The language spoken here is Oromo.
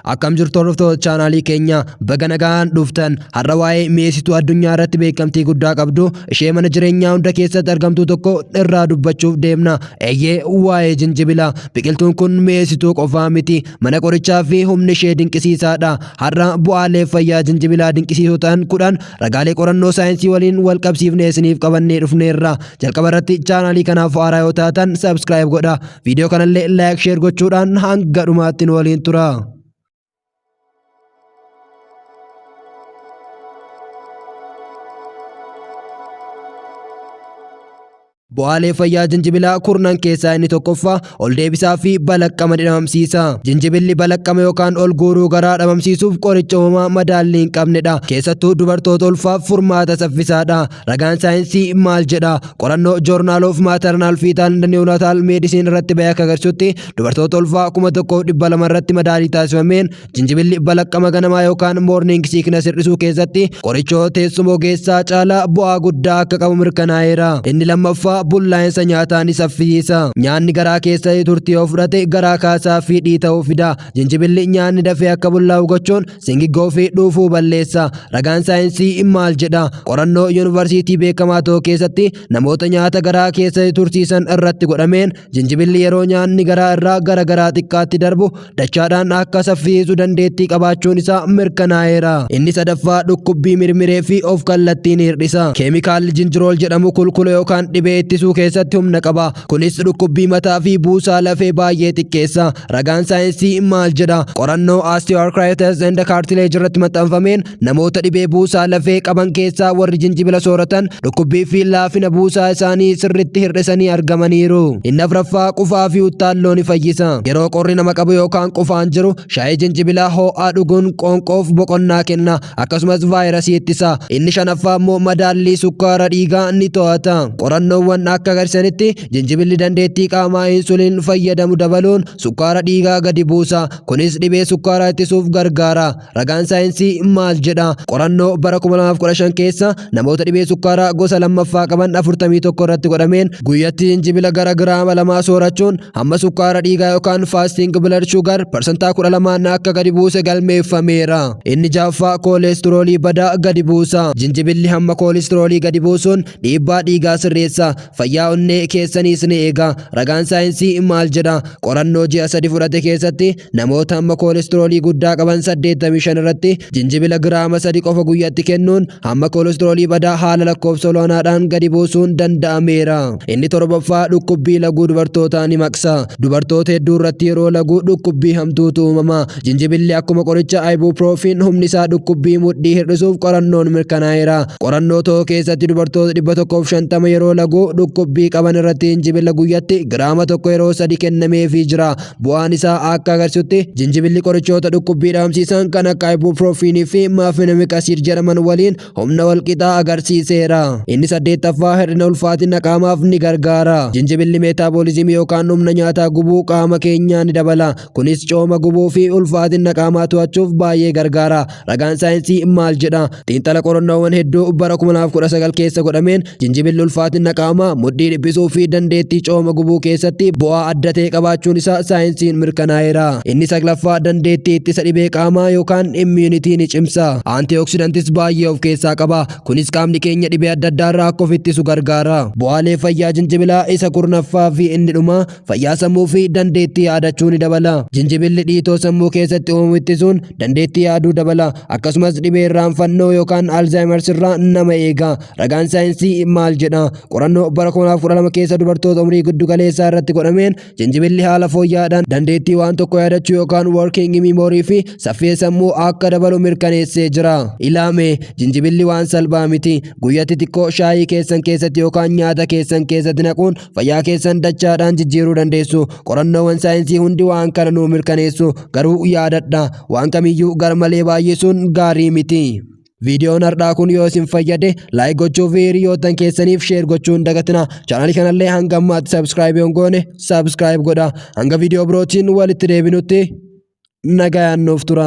Akkam jirtu hordoftoota chaanaalii keenya baga nagaan dhuftan har'a waa'ee mi'eessituu addunyaa irratti beekamtii guddaa qabdu ishee mana jireenyaa hunda keessatti argamtuu tokko irraa dubbachuuf deemna eeyyee waa'ee jinjibila biqiltuun kun mi'eessituu qofaa miti mana qorichaa fi humni ishee dinqisiisaadha har'a bu'aalee fayyaa jinjibilaa dinqisiisoo ta'an kudhan ragaalee qorannoo saayinsii waliin wal qabsiifnee isiniif qabannee dhufneerra jalqaba irratti chaanaalii kanaaf haaraa yoo taatan sabskiraayib godha Viidiyoo kanallee laayik sheer gochuudhaan hanga dhumaatti nu waliin tura. Bu'aalee fayyaa jinjibilaa kurnan keessaa inni tokkoffaa ol deebisaa fi balaqqama dhabamsiisa. Jinjibilli balaqqama yookaan ol guuruu garaa dhabamsiisuuf qoricha uumamaa madaallii hin qabnedha. Keessattuu dubartoota ulfaaf furmaata saffisaadha. Ragaan saayinsii maal jedha? Qorannoo Journal of Maternal Fetal and Neonatal Medicine irratti bahee akka agarsiisutti dubartoota ulfaa kuma tokkoof dhibba lama irratti madaalii taasifameen jinjibilli balaqqama ganamaa yookaan morning sickness hir'isuu keessatti qorichoo teessuma ogeessaa caalaa bu'aa guddaa akka qabu mirkanaa'eera. Inni lammaffaa bullaa'insa nyaataa ni saffisiisa. Nyaanni garaa keessatti turtii yoo fudhate garaa kaasaa fi dhiita'uu fida. Jinjibilli nyaanni dafee akka bullaa'u gochuun Singiggoo fi dhuufuu balleessa. Ragaan saayinsii maal jedha? Qorannoo yuunivarsiitii beekamaa tokko keessatti namoota nyaata garaa keessa tursiisan irratti godhameen jinjibilli yeroo nyaanni garaa irraa gara garaa xiqqaatti darbu dachaadhaan akka saffiisu dandeettii qabaachuun isaa mirkanaa'eera. Inni sadaffaa dhukkubbii mirmiree fi of kallattiin hir'isa. Keemikaalli jinjirool jedhamu kulkula yookaan dhibee ittisuu keessatti humna qaba. Kunis dhukkubbii mataa fi buusaa lafee baay'ee xiqqeessa. Ragaan saayinsii maal jedha? Qorannoo osteoarthritis and cartilage irratti maxxanfameen namoota dhibee buusaa lafee qaban keessaa warri jinjibila sooratan dhukkubbii fi laafina buusaa isaanii sirriitti hir'isanii argamaniiru. Inni afraffaa qufaa fi uttaalloo ni fayyisa. Yeroo qorri nama qabu yookaan qufaan jiru shaayii jinjibilaa hoo'aa dhuguun qoonqoof boqonnaa kenna akkasumas vaayirasii ittisa. Inni shanaffaa immoo madaallii sukkaara dhiigaa ni to'ata. Qorannoowwan akka agarsiisanitti Jinjibilli dandeettii qaamaa insuliin fayyadamu dabaluun sukkaara dhiigaa gadi buusa. Kunis dhibee sukkaaraa ittisuuf gargaara. Ragaan saayinsii maal jedha? Qorannoo bara 2015 keessa namoota dhibee sukkaaraa gosa lammaffaa qaban 41 irratti godhameen guyyatti jinjibila gara giraama lamaa soorachuun hamma sukkaara dhiigaa yookaan fasting blood sugar parsantaa 12 akka gadi buuse galmeeffameera. Inni jaaffaa kooleestiroolii badaa gadi buusa. Jinjibilli hamma kooleestiroolii gadi buusuun Dhiibbaa dhiigaa sirreessa, fayyaa onnee keessaniis ni eega. Ragaan saayinsii maal jedha? Qorannoo ji'a sadi fudhate keessatti namoota hamma koolistiroolii guddaa qaban 85 irratti jinjibila giraama sadi qofa guyyatti kennuun hamma koolistiroolii badaa haala lakkoofsa olaanaadhaan gadi buusuun danda'ameera. Inni torbaffaa dhukkubbii laguu dubartootaa ni maqsa. Dubartoota hedduu irratti yeroo laguu dhukkubbii hamtuutu uumama. Jinjibilli akkuma qoricha ibuprofen humni isaa dhukkubbii mudhii hir'isuuf qorannoon mirkanaa'eera. Qorannoo tokko keessatti dubartoota 150 yeroo lagu dhukkubbii qaban irratti jinjibila guyyatti giraama tokko yeroo sadi kennameefii jira. Bu'aan isaa akka agarsiisutti jinjibilli qorichoota dhukkubbii dhabamsiisan kan akka ibuprofen fi mafenomic acid jedhaman waliin humna walqixaa agarsiiseera. Inni saddeettaffaa hir'ina ulfaatina qaamaaf ni gargaara. Jinjibilli meetaaboolizimii yookaan humna nyaataa gubuu qaama keenyaa ni dabala. Kunis cooma gubuu fi ulfaatina qaamaa to'achuuf baay'ee gargaara. Ragaan saayinsii maal jedha? Xiinxala qorannoowwan hedduu bara 2019 keessa godhameen jinjibilli ulfaatina qaamaa, mudhii dhiphisuu fi dandeettii cooma gubuu keessatti bu'aa adda ta'e qabaachuun isaa saayinsiin mirkanaa'eera. Inni saglaffaa dandeettii ittisa dhibee qaamaa yookaan immuunity ni cimsa. Antioxidants baay'ee of keessaa qaba. Kunis qaamni keenya dhibee adda addaa irraa akka of ittisu gargaara. Bu'aalee fayyaa jinjibilaa isa kurnaffaa fi inni dhumaa fayyaa sammuu fi dandeettii yaadachuu ni dabala. Jinjibilli dhiitoo sammuu keessatti uumamu ittisuun dandeettii yaaduu dabala. Akkasumas dhibee irraanfannoo yookaan Alzheimer's irraa nama eega. Ragaan saayinsii maal jedha? Qorannoo bara 2012 keessa dubartoota umrii giddu galeessaa irratti godhameen jinjibilli haala fooyya'aadhaan dandeettii waan tokko yaadachuu yookaan working memory fi saffisa sammuu akka dabalu mirkaneessee jira. Ilaame jinjibilli waan salphaa miti. Guyyatti xiqqoo shaayii keessan keessatti yookaan nyaata keessan keessatti naquun fayyaa keessan dachaadhaan jijjiiruu dandeessu qorannoowwan saayinsii hundi waan kana nuu mirkaneessu garuu yaadadha waan kamiyyuu garmalee baay'isuun gaarii miti. viidiyoon har'aa kun yoo isin fayyade laayik gochuu fi hiriyoottan keessaniif sheer gochuun dagatina chaanalii kanallee hanga ammaatti sabskiraayib yoon goone sabskiraayib godha hanga viidiyoo birootiin walitti deebinutti nagayaan nuuf tura.